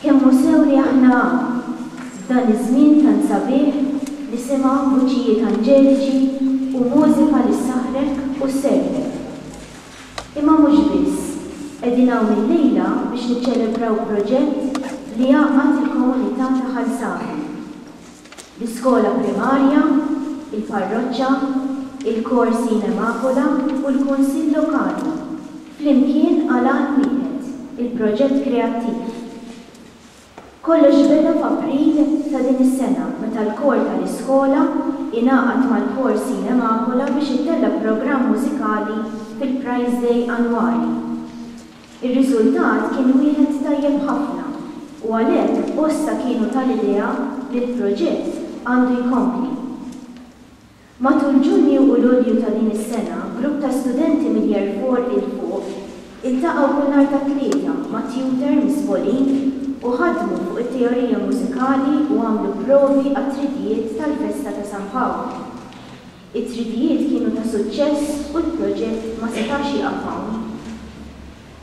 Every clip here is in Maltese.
Kemm hu sew li aħna hawn, f'dan iż-żmien tant sabiħ, nisimgħu vuċijiet anġeliċi u mużika li ssaħħrek u sservek. Imma mhux biss, qegħdin hawn illejla biex niċċelebraw proġett li jgħaqqad il-komunità ta' Ħal Savi. l-iskola primarja, il-parroċċa, il-korsi in Emakola u l-Kunsill Lokali, flimkien għal għan wieħed, il-proġett kreattiv. Kollox beda f'April ta' din is-sena meta l-kor tal-iskola ingħaqad mal-korsi in Emakola biex ittella' programm mużikali fil-Prize Day annwali. Ir-riżultat kien wieħed tajjeb ħafna u għalhekk bosta kienu tal-idea li l-proġett għandu jkompli. Matul Ġunju u Lulju ta' din is-sena grupp ta' studenti minn Year Four 'il fuq iltaqgħu kull nhar tat-Tlieta ma' tutor mis-Spolin u ħadmu fuq it-teorija mużikali u għamlu provi għat-tridijiet tal-festa ta' San Pawl. It-tridijiet kienu ta' suċċess u l-proġett ma setax jieqaf hawn.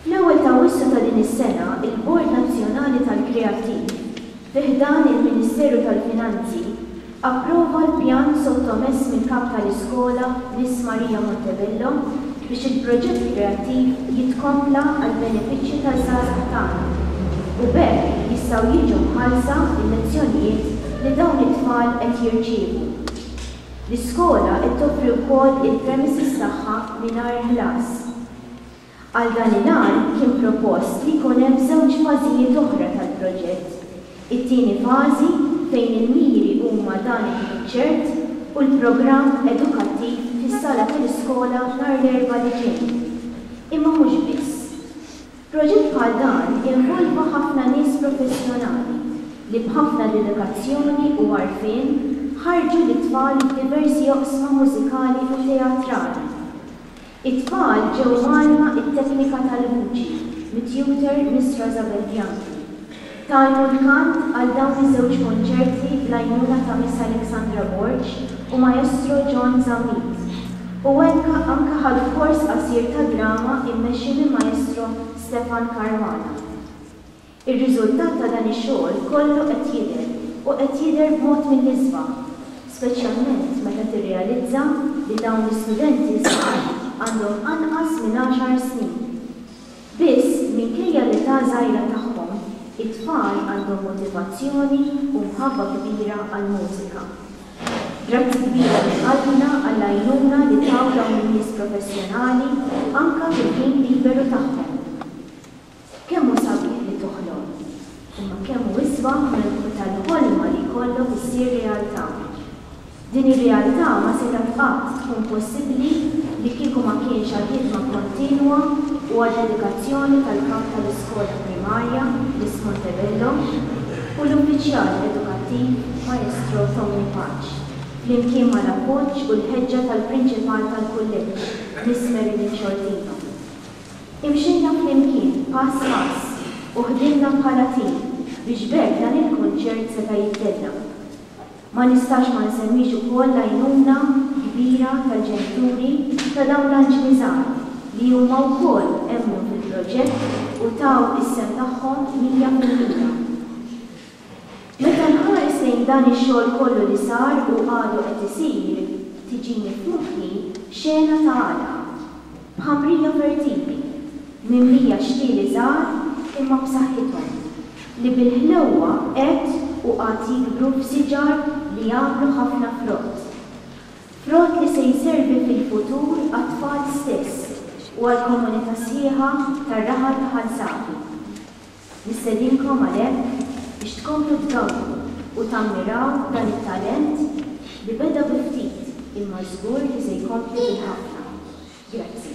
Fl-ewwel ta' Awwissu ta' din is-sena, il-Bord Nazzjonali tal-Kreattiv, fi ħdan il-Ministeru tal-Finanzi, approva l-pjan sottomess mill-Kap tal-Iskola, Miss Maria Montebello, biex il-proġett kreattiv jitkompla għall-benefiċċju taż-żgħażagħ tagħna u b'hekk jistgħu jiġu mħallsa l-lezzjonijiet li dawn it-tfal qed jirċievu. L-iskola qed toffri wkoll il-premises tagħha mingħajr ħlas. Għal dan il-għan kien propost li jkun hemm żewġ fażijiet oħra tal-proġett, it-tieni fażi fejn il-miri huma dan il-kunċert u l-programm edukattiv fis-sala tal-iskola nhar l-Erbgħa li ġej. Imma mhux biss. Proġett bħal dan jinvolva ħafna nies professjonali li b'ħafna dedikazzjoni u għarfien ħarrġu lit-tfal f'diversi oqsma mużikali u teatrali. It-tfal ġew mgħallma t-teknika tal-vuċi mit-tutor Miss Rosabel Bianchi. Tagħtu l-kant għal dawn iż-żewġ konċerti bl-għajnuna ta' Miss Alexandra Borg u Maestro John Zammit, u anke anke ħadu kors qasir ta' drama immexxi minn Maestro Stefan Caruana. Ir-riżultat ta' dan ix-xogħol kollu qed jidher, u qed jidher b'mod mill-isbaħ, speċjalment meta tirrealizza li dawn l-istudenti żgħar għandhom anqas minn għaxar snin. Biss, minkejja l-età żgħira tagħhom, it-tfal għandhom motivazzjoni u mħabba kbira għall-mużika. Grazzi kbira minn qalbna għall-għajnuna li taw dawn in-nies professjonali anke fil-ħin liberu tagħhom. Kemm hu sabiħ li toħlom, imma kemm hu isbaħ meta l-ħolma li jkollok issir realtà! Din ir-realtà ma setgħet qatt tkun possibbli li kieku ma kienx għall-ħidma kontinwa u għad-dedikazzjoni tal-Kap tal-Iskola Primarja, Miss Montebello, u l-Uffiċjal Edukattiv, Maestro Tommy Paċ, flimkien mal-appoġġ u l-ħeġġa tal-Prinċipal tal-Kulleġġ, Miss Marilyn Sciortino. Imxejna flimkien, pass pass, u ħdimna bħala tim biex b'hekk dan il-kunċert seta' jittella'. Ma nistax ma nsemmix ukoll l-għajnuna kbira tal-ġenituri ta' dawn l-anġli żgħar li huma wkoll emmnu fil-proġett u taw is-sehem tagħhom mija fil-mija. Meta nħares lejn dan ix-xogħol kollu li sar u għadu qed isir, tiġini f'moħħi xena ta' għada. Ħamrija fertili, mimlija xlieli żgħar imma b'saħħithom, li bil-ħlewwa qed u għad jikbru f'siġar li jagħmlu ħafna frott. Frott li se jservi fil-futur għat-tfal stess u għall-komunità sħiħa tar-raħal ta' Ħal Safi. Nistedinkom għalhekk biex tkomplu tgawdu u tammiraw dan it-talent li beda bi ftit imma żgur li se jkompli bil-ħafna. Grazzi.